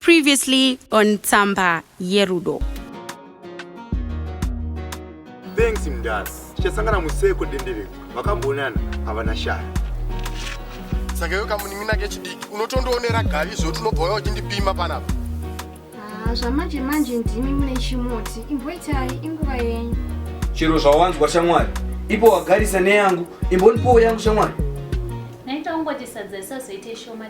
Previously on Tsamba Yerudo. Thanks mdara. Tichasangana museko dendereko. Vakambonana havana shaya. Saka iwe kamunin'ina kechidiki unotondoonera gavi zvekuti unobva uya uchindipima panapa. Ah, zvamanje manje ndimi mune chimuti. Imboitai inguva yenyu. Chero zvawanzwa shamwari. Ipo wagarisa neyangu. Imbonipowo yangu shamwari. Naita ungoti sadza isazoite shoma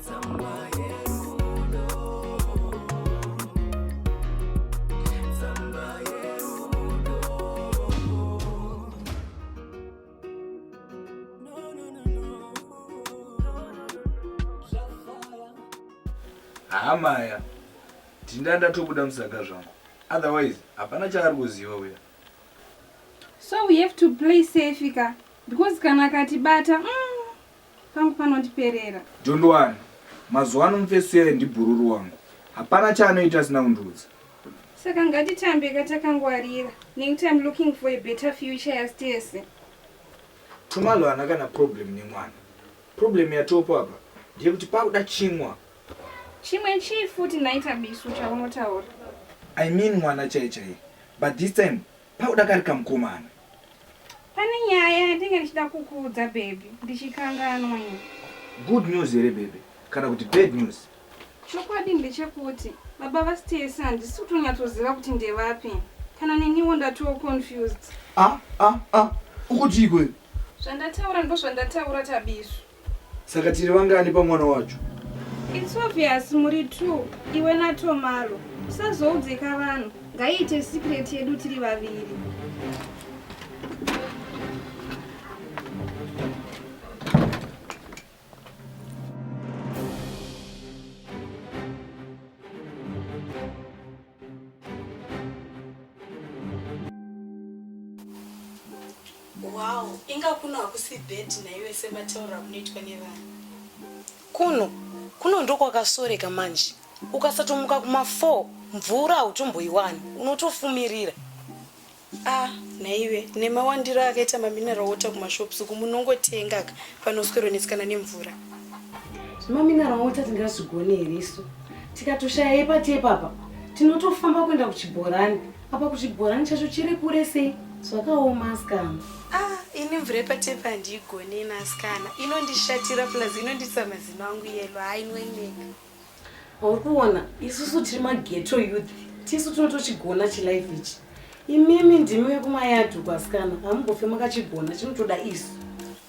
hamaya tinda ndatobuda musaga zvangu otherwise hapana chaari kuziva uya so we have to play safe ka because kana akatibata mm. Pangu panondiperera. Don't worry. Mazuva ano mufesuyayo ndibhururu wangu. Hapana chaanoita asina kundiudza. Saka ngatitambe ka takangwarira nekuti I'm looking for a better future yastese. Tumalo hana kana problem nemwana. Problem yatopo apa ndeyekuti pakuda chimwa. Chimwe chii futi nhai Tabiso chaunotaura? I mean mwana chaiye chaiye. But this time Pauda kari kamukomana. Pane nyaya yandinge ndichida kukuudza baby ndichikanganwa ini. Good news here baby kana kuti bad news? Chokwadi ndechekuti baba vaStacey handisi kutonyatsoziva kuti ndevapi. Kana neniwo ndatoo confused. Ah ah ah ukuti ikwe. Zvandataura ndozvandataura Tabiso. Saka tiri vangani pamwana wacho? It's obvious muri two iwe naTomalo. Usazoudzeka vanhu. Ngaiite secret yedu tiri vaviri. Wow, inga kuno hakusi bed naiwe semataura kunoitwa nevanhu. Kuno kuno ndokwakasoreka manje. Ukasatomuka kuma 4 mvura hautomboiwani, unotofumirira. Ah nhaiwe nemawandiro akaita mamineral water kumashops uku munongotenga ka panoswero netsikana nemvura. Mamineral water tingazvigone here isu tikatoshaya ipati ipapa tinotofamba kuenda kuchibhorani apa kuchibhorani chacho chiri kure sei zvakaoma asikana. Ah ini mvura ipati ipa handiigone ina asikana inondishatira plus inonditsa mazino angu yelo hainweneka. Uri kuona isusu tiri mageto youth tisu tinotochigona chilife ichi. Imimi ndimi vekumayadhu kwasikana hamumbofe makachigona chinotoda isu.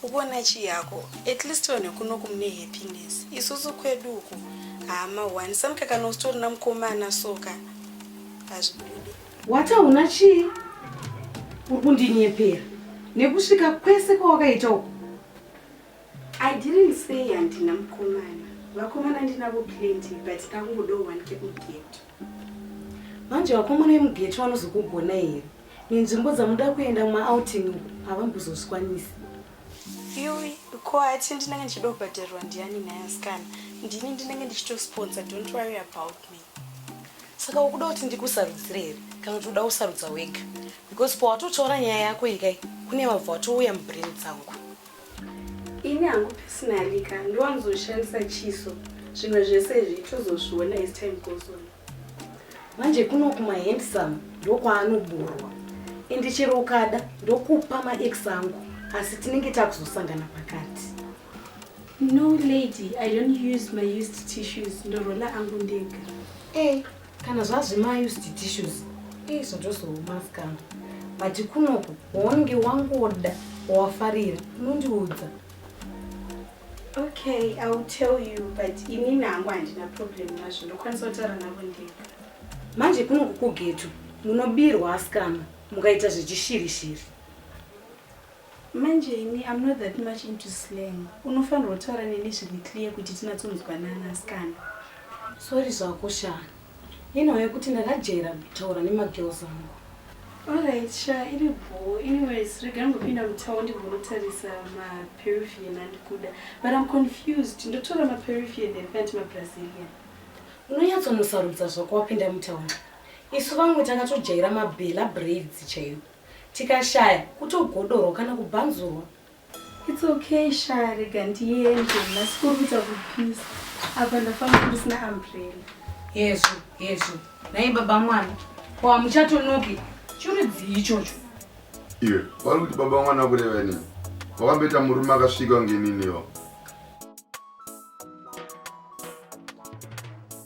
Ukuona chii yako at least vanhu vekuno kumune happiness isusu kwedu uku hama one samkakana usitorina mukomana soka hazvibude. Wata una chii uri kundinyepera nekusvika kwese kwawakaita uku I didn't say handina mukomana. Vakomana ndinavo plenty but ndakungodawo one kekugeto. Manje vakomana vemugeto vanozokugona here? Nenzvimbo dzamunoda kuenda mumaouting uku havambozozvikwanisi. Yuwi, ko ati ndinenge ndichida kubhadharirwa ndiani naye asikana? Ndini ndinenge ndichitosponsor, don't worry about me. Saka ukuda kuti ndikusarudzire here kana kuti uda kusarudza wega? Because pawatotaura nyaya yako ikai kune vabva watouya mubrain dzangu. Ini hangu personally ka ndiwanzoshandisa chiso zvimwe zvese izvi tozozviona as time goes on. Manje kuno kuma handsome ndokwaanoburwa and chero ukada ndokupa maex angu asi tinenge takuzosangana pakati. No lady, I don't use my used tissues ndorola angu ndega. Eh, kana zvazvima used tissues izvo ndozoumaskana but kunoku waunenge wangoda wawafarira unondiudza okay i will tell you but ini nangu handina problem nazvo ndokwanisa kutaura navo ndega manje kunoku kugetu munobirwa asikana mukaita zvechishirishiri Manje ini I'm not that much into slang. Unofanirwa kutaura neni zviri clear kuti tinatsonzwanana asikana. Sorry zvako sha. Inhau yekuti ndakajaira kutaura nemagirls angu. Alright sha iri bhoo. Anyways regai ngopinda mutawo ndigonotarisa maperuvian andikuda. But I'm confused. Ndotora maperuvian here kana kuti mabrazilian? Unonyatsonosarudza zvako wapinda mutawo. Isu vamwe takatojaira mabella braids chaiwo. Tikashaya kutogodorwa kana kubhanzurwa. It's okay sha rega ndiende nasikuru kuita kupisa apa ndafamba ndisina umbrella. Hezvo hezvo nhai baba mwana ko hamuchatonoki chirudzii ichocho. Iwe wari kuti baba mwana kureva inini wakamboita murume akasvika ngeniniwo.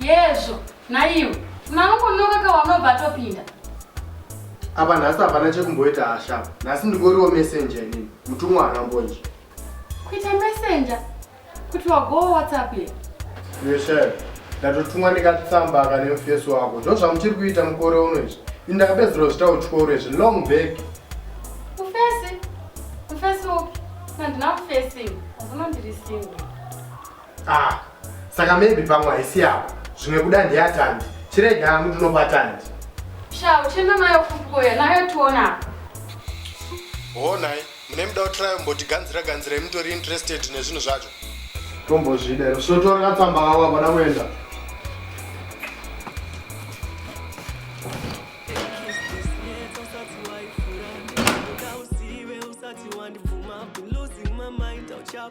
Yezvo, naiwe. Unanongonoka ka wanobva atopinda. Apa nhasi hapana chekumboita hasha. Nhasi ndingoriwo messenger inini. Mutumwa anambonje. Kuita messenger? Kuti wagowa WhatsApp here? Yeshe. Ndatotumwa ndikatsamba akane mufesi wako. Ndozvamuchiri kuita mukore uno izvi. Indakapedzerwa zvita uchikoro izvi long back. Mufesi? Mufesi upi? Handina mufesi. Hazvino ndiri single. ah saka maybe pamwe haisi yavo zvimwe kuda ndiyatandi chirege hangu ndinobatandi sha uchenda nayo kukoya nayo tiona honai mune muda kutrayo mboti ganzira ganzira imutori interested nezvinhu zvacho tombozvidero sotora katsamba kavo avada kuenda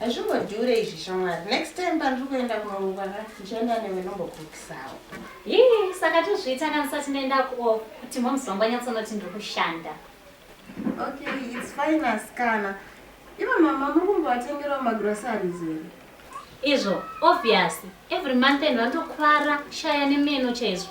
Hazvingodhure izvi shamwari. Next time pandiri kuenda kunorungwa ka ndichaenda newe nombokukisawo. Hii, saka tozviita kana sati ndaenda kuo kuti moms vangu vanyatsonoti ndiri kushanda. Okay, it's fine asikana. Ivo mama muri kumbovatengerawo magroceries here? Izvo obvious. Every month end vanotokuvara kushaya nemeno chaizvo.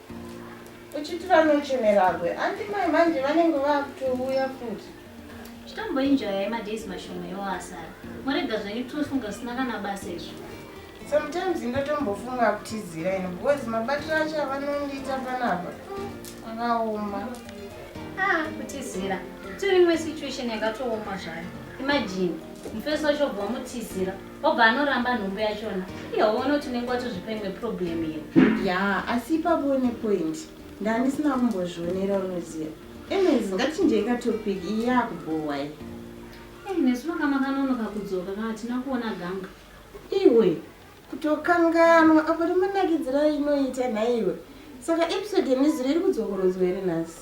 Uchiti vanochemeragwe anti mai manje vanenge vakutouya futi. Chitomboinjoyai madays mashoma iwo asara. Morega zvenyu tofunga zvisina kana basa izvo. Sometimes ndotombofunga kutizira ino because mabatiro acho avanondiita panapa akaoma. Ah, kutizira. Tiri imwe situation yakatooma zvayo. Imagine, mufesi wacho bva mutizira. obva anoramba nhumbu yachona ihowo unoti unenge watozvipa imwe problem here ya asi ipapo une point ndandisina kumbozvionera unoziva anyways ngatichinjeika topic iyi yakubhowa i ei nesu vakamakanonoka kudzoka kana hatina kuona ganga iwe kutokanganwa apo rimanakidzira inoita nhaiwe saka episode yemizuro iri kudzokorodzwa here nhasi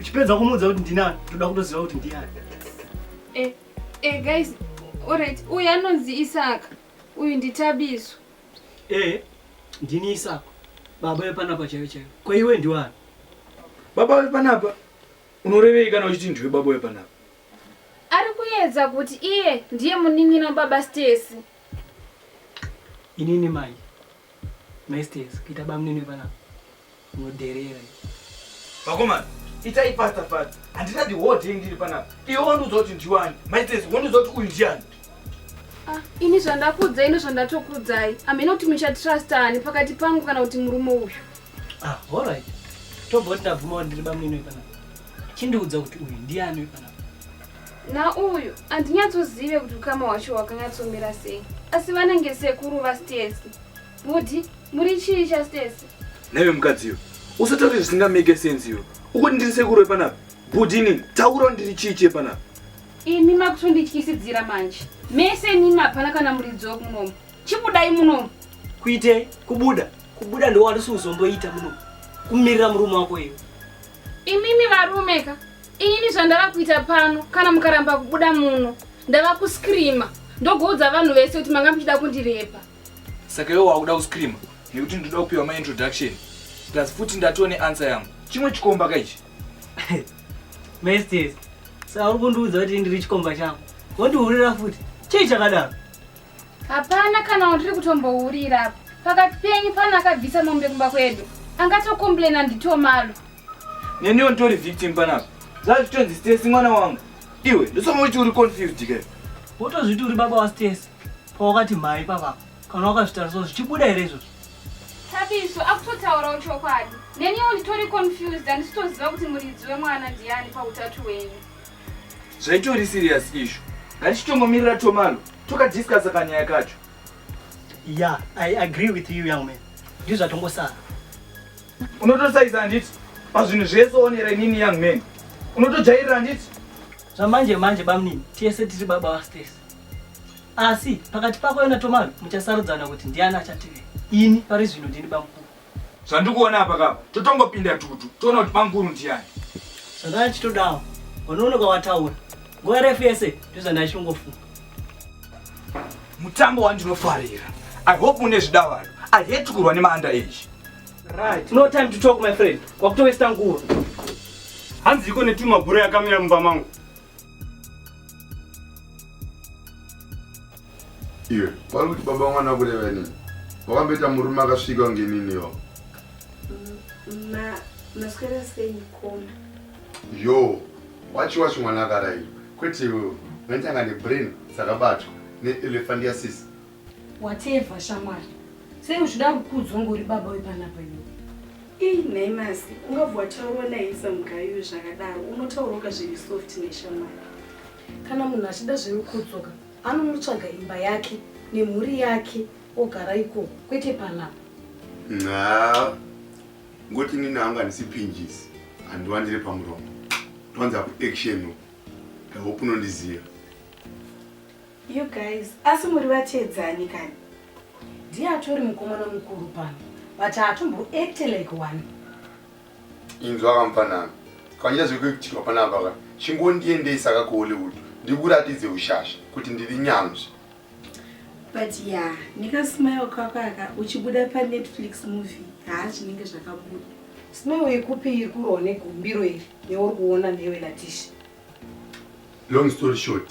Uchipedza kumuudza kuti ndinani, toda kutoziva kuti ndiyani. Eh, eh guys, alright. Uyu anonzi Isaka. Uyu nditabiso. Eh, ndini Isaka. Baba wepanapa chaiyo chaiyo. Kwa iwe ndiwani? Baba wepanapa. Unorevei kana uchiti ndiwe baba wepanapa? Ari kuedza kuti iye ndiye munin'ina baba Stacy. Inini mai. Mai Stacy, kuita bamunini wepanapa. Mudherere. Vakomana, itai fasta fasta. Handina the whole day ndiri panapa. Iwe wandiudza kuti ndiwani. Maitezi wandiudza kuti uyu ndiani. Ah, ini zvandakuudzai nezvandatokuudzai hamhena kuti muchatrasta ani pakati pangu kana kuti murume uyu ah, allright tobva tabvuma kuti ndiri bamnini wepanapa chindiudza kuti uyu ndiani wepanapa na uyu handinyatsozive kuti ukama hwacho hwakanyatsomira sei asi vanenge sekuru vastesi Bhudhi, muri chii chaStesi? Naiwe mukadziyo, usataure zvisingameke sense iwe. Ukuti ndiri sekuru wepanapa? Bhudhi inini, taurawo ndiri chii chepanapa? Imi makutondityisidzira manje. Mese imimi hapana kana muridzi wekunomu. Chibudai munomu. Kuitei? Kubuda? Kubuda ndiwo wandisi kuzomboita munomu. Kumirira murume wako iwe. Imimi varume ka? Ini zvandava kuita pano kana mukaramba kubuda muno ndava kuscreamer ndogoudza vanhu vese kuti manga muchida kundirepa. saka iwe wakuda kuscreama nekuti ndinoda kupiwa maintroduction plus futi ndatiwo neansa yangu chimwe chikomba ka ichi mestes saka uri kundiudza kuti ndiri chikomba changu wondihurira futi chii chakadaro hapana kana wandiri kutombohurira apo pakati penyu pana akabvisa mombe kumba kwedu angatokomplaina nditomalo neniwo nditori victim panapa zvazitonzi stesi mwana wangu iwe ndosoma uti uri confused ke wotozviti uri baba wastesi Pawakati mhai papa kana wakazvitarisa zvichibuda here izvozvo? Tabiso akutotaurawo chokwadi. Neniwo nditori confused handisitoziva kuti muridzi wemwana ndiani pautatu wenyu. Zvaitori serious izvo. Ngatichitongomirira Tomalo tokadiscussa kanyaya kacho. Yeah, I agree with you young man. Ndizvo zvatongosara. Unotosaiza handiti? Pazvinhu zvese onera inini young man. Unotojairira handiti? Zvamanje manje bamnini, tese tiri baba vaStacey. asi pakati pako yona tomano muchasarudzana kuti ndiani achative ini pari zvino ndini bamkuru zvandikuona apa kapa totongopinda tutu toona kuti bamkuru ndiani zvandana chitodawo unonoka wataura nguva refu yese ndozvandachongofunga mutambo wandinofarira i hope une zvidavaro i hate kurwa nemaanda age right no time to talk my friend wakutowesta nguva hanzi iko netumabhura yakamira mumba mangu iwe vari kuti baba mwana kureva inini wakamboita murume akasvika kunge inini yo yo wachi wachi mwana akarai kwete iwewe unatanga nebrain dzakabatwa neelefandiasisi Whatever shamwari. Sei uchida kukudzwa ngori baba wepanapa iwe? Ii nhai masi, ungabva wataurwa naisa mugayiwe zvakadaro, unotaurwa zviri soft neshamwari. Kana munhu achida zvemukudzoka anonotsvaga imba yake nemhuri yake ogara iko kwete panapa. Nxa ngoti nini hangu handisi pinjisi handiwandire pamuromo ndwanza kuaction ndahope unondiziva You guys, asi muri vateedzani kani? Ndiye atori mukomana mukuru pano, but haatombo act like one. Inzwa kamfanami, kanyita zvekuitirwa panapa ka, chingondiendesa ka kuHollywood ndikuratidze ushasha kuti ndiri nyanzvi. But yeah, nekasmile kako aka uchibuda paNetflix movie, haa zvinenge zvakabuda. Smile yekupi iri kurohwa negumbiro iri neuri kuona newe Latisha? Long story short,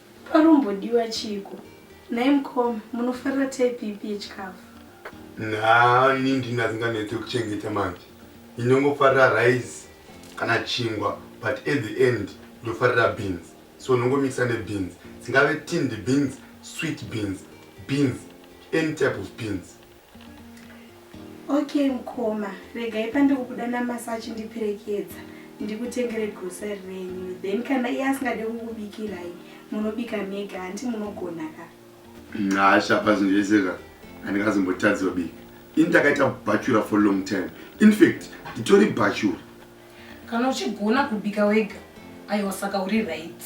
Panombodiwa chiiko nhai mukoma munofarira type ipi yechikafu? Nhaa ini ndini asinganetse kuchengeta manje ndinongofarira rice kana chingwa but at the end ndofarira beans so ndongomixa nebeans dzingave tinned beans, sweet beans, beans any type of beans. Okay mkoma, regai pandikubuda namasa achindiperekedza ndikutengere grocery renyu then kana iye asingade kukubikirai munobika mega hanti munogona ka nhasha pazvinhu zvese ka handikazombotadziwa bika ini ndakaita bhachura for long time infact nditori bhachura Kana uchigona kubika wega aiwa saka uri right.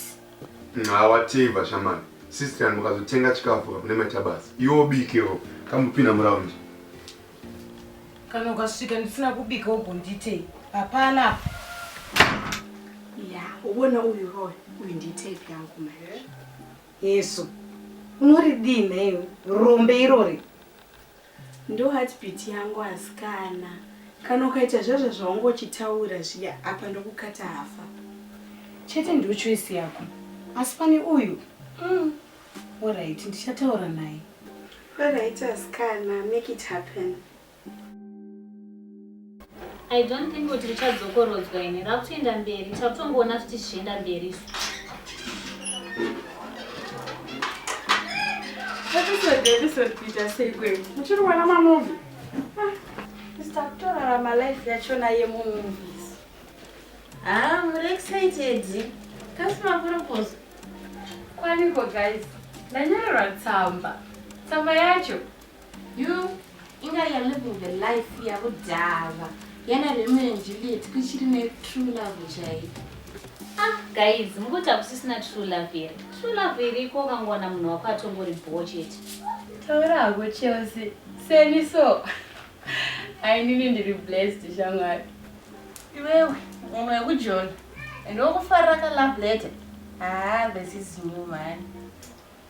Nxawa teva shamani sister mukazotenga chikafu kapune maita basa iwo bikewo kambopinda muraundi kana ukasvika ndisina kubika ubonditei hapana apa ya ubona uyu roy uyu nditei yangu mai yesu unoridii nhaiwe rombe irori Ndo heartbeat yangu askana. Kana ukaita zvazva zvawanga uchitaura zviya apa ndokukata hafa. Chete ndiyo choice yako asi pane uyu umm horaiti ndichataura naye. Horaiti askana make it happen. I don't think kuti richadzokorodzwa ini rakutoenda mberi takutongoona kuti zvichienda mberi isu kuita sei kwe muchiri kuona mamuvi ah, mr kutorarama life yachona yemumovies ha ah, muri excited kasi makurokozo kwaniko guys ndanyorerwa tsamba tsamba yacho You inga you're living the life yakudhava yana Romeo and Juliet kuchiri ne true love chaiyo. Ah guys, mukuti hakusisina true love here? True love iriko ukangowana munhu wako atongori bho chete. Taura hako Chelsea, seni so. Ainini ndiri blessed shamwari. Iwewe mumwe wekujona and wokufarira ka love letter. Ah, this is new man.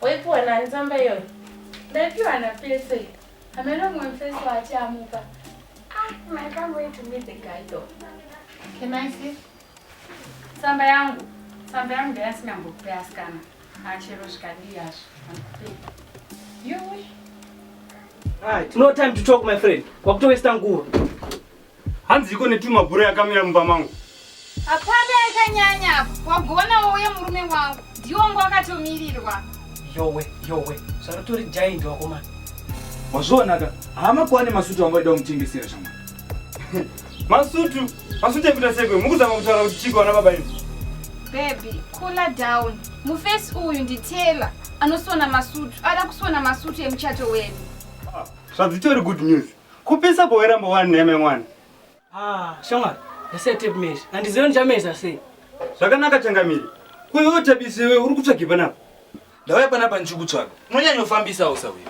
Waipiwa nani tsamba iyoyo? Ndaipiwa naPese. Hameno mumwe mufesi waati amupa. Ah, I can't wait to meet the guy though. Can I see? Tsamba yangu. Tsamba yangu ndayasingambokupei asikana. Achero zvikadii hazvo. Handikupei. Yuwi. Right. No time to talk my friend. Kwakutowesta nguva. Hanziko netuma bhura yakamira mumba mangu. Hapana yakanyanya apa. Wagona wouye murume wangu. Ndiwo ngo akatomirirwa. Yowe, yowe. Zvarutori giant wakomana. Wazvionaka. Hama kwane masutu wangu waida kumutengesera shamwari. Masutu, masutu ekuita sekwe. Mukuzama kutaura kuti chiko wana baba ini. Baby, cooler down. Mufesi uyu ndi Taylor anosona masutu. Ada kusona masutu emuchato wedu. Ah, zvadzitori good news. Kupisa boera mbowani neme mwana. Ah, shamwari, ndasiya tape measure. Handizive ndichameza sei. Zvakanaka changamire. Kuiwo tape isiwe uri kutsvagi panapa. Ndauya panapa ndichikutsvaga. Unonyanyofambisa usa uyu.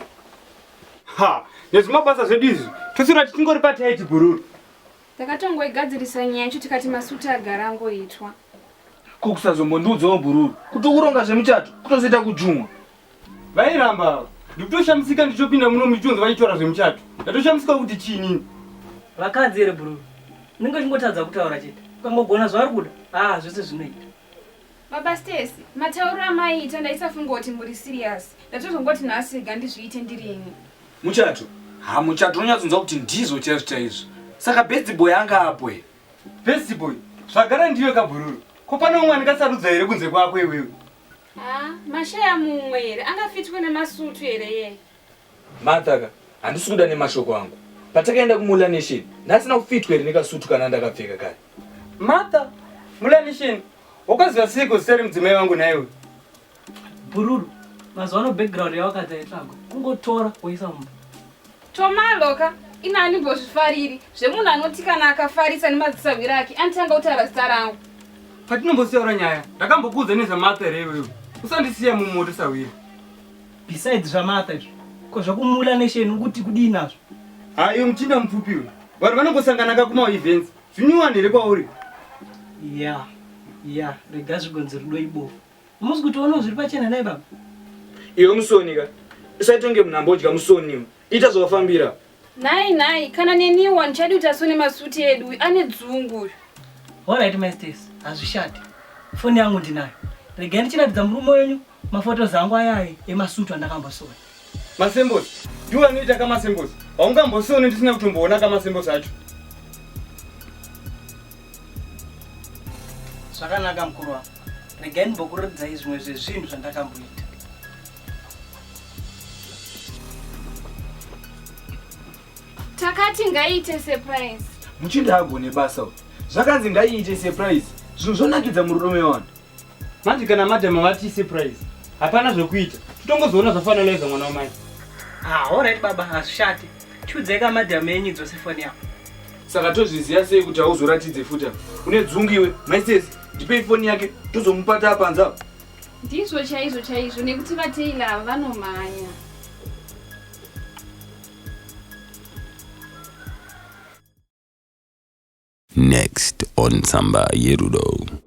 Ha, nezvimabasa zvedu izvi. Tusira tichingori pataiti gururu. Takatongoigadzirisa nyaya yacho tikati masuti agara angoitwa. Ko kusazombondiudzawo gururu. Kuti ukuronga zvemuchato kutozoita kujumwa. Vairamba ava. Ndikutoshamisika ndichopinda muno muchitonzi vachitora zvemuchato. Ndatoshamisika kuti chii nini? Vakadzi here bro? Ndinge chingotadza kutaura chete. Ukangogona zvauri kuda. Ah, zvese zvinoita. Baba Stacy, matauriro amaiita ndaisafunga kuti muri serious. Ndatozongoti nhasi rega ndizviite ndirini. Muchato? Ha, muchato unonyatsonzwa kuti ndizvo chaizvo chaizvo. Saka best boy anga apo here? Best boy? Zvagara ndiwe kabhururu. Ko pane umwe andingasarudza here kunze kwako iwewe? Ah, mashaya mumwe here angafitwe nemasutu here yeye martha ka handisi kuda nemashoko angu patakaenda kumulanation ndasina kufitwa here nekasutu kana ndakapfeka kare martha mulanation wakaziva seiko zita remudzimai vangu naiwe bhururu mazuva ano background yawakadza yetsvago kungotora woisa mumba Tomalo ka ini andimbozvifariri zvemunhu anoti kana akafarisa nemadzisahwiri ake anotanga kutaura zita rangu patinombosiyora nyaya ndakambokuudza nezvamatha here iwewe usandisiya mumoto sahwiri besides zvamatha izvo ko zvakumula nesheni ukuti kudii nazvo ha iwe muchinda mupfupi we vanhu vanongosangana ka kumaevents zvinyuwani here kwauri ya ya rega zvigonzi rudo ibofu Hamusi kutoonawo zviri pachena nai baba? Iwe musoni ka. Usaitonge munhu ambodya musoni iwe. Ita zvawafambira. Nhai nhai kana neniwo handichadi kuti asone masuti edu uyu ane dzungu uyu. Alright mai Stacy, hazvishati. Foni yangu ndinayo. Regai ndichiratidza murume wenyu mafotos angu ayai emasutu andakambosona. Masembosi. Ndiwo anoita kamasembosi. Haungambosione ndisina kutomboona kamasembosi acho. Zvakanaka mukuru wangu. Regai ndimbokuratidzai zvimwe zvezvinhu zvandakamboita. Takati ngaiite surprise. Muchinda agone basa uyu. Zvakanzi ngaiite surprise. Zvinhu zvonakidza murudo mevanhu. Manje kana madam vati surprise. Hapana zvekuita. Totongozoona zvafaneleza mwana wamai. Ah, all right baba, hazvishati. Chudzeka madam enyu dzose foni yako. Saka tozviziva sei kuti hauzoratidze futa. Une dzungu iwe. Maises, ndipei foni yake tozomupata apa nzava. Ndizvo chaizvo chaizvo nekuti vaTaylor ava vanomhanya. Next on Tsamba Yerudo.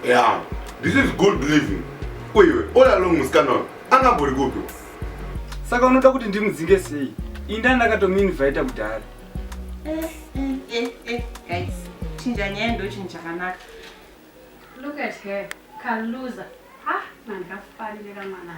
Yeah, this is good living. Uiwe, all along musikana uyu, angambori kupi? Saka unoda kuti ndimudzinge sei? Inda ndakatomuinvita kudhara. Eh, eh, eh, eh, guys, chinja nyaya ndochinhu chakanaka. Look at her, kaluza. Ah, mandikafarira mwana.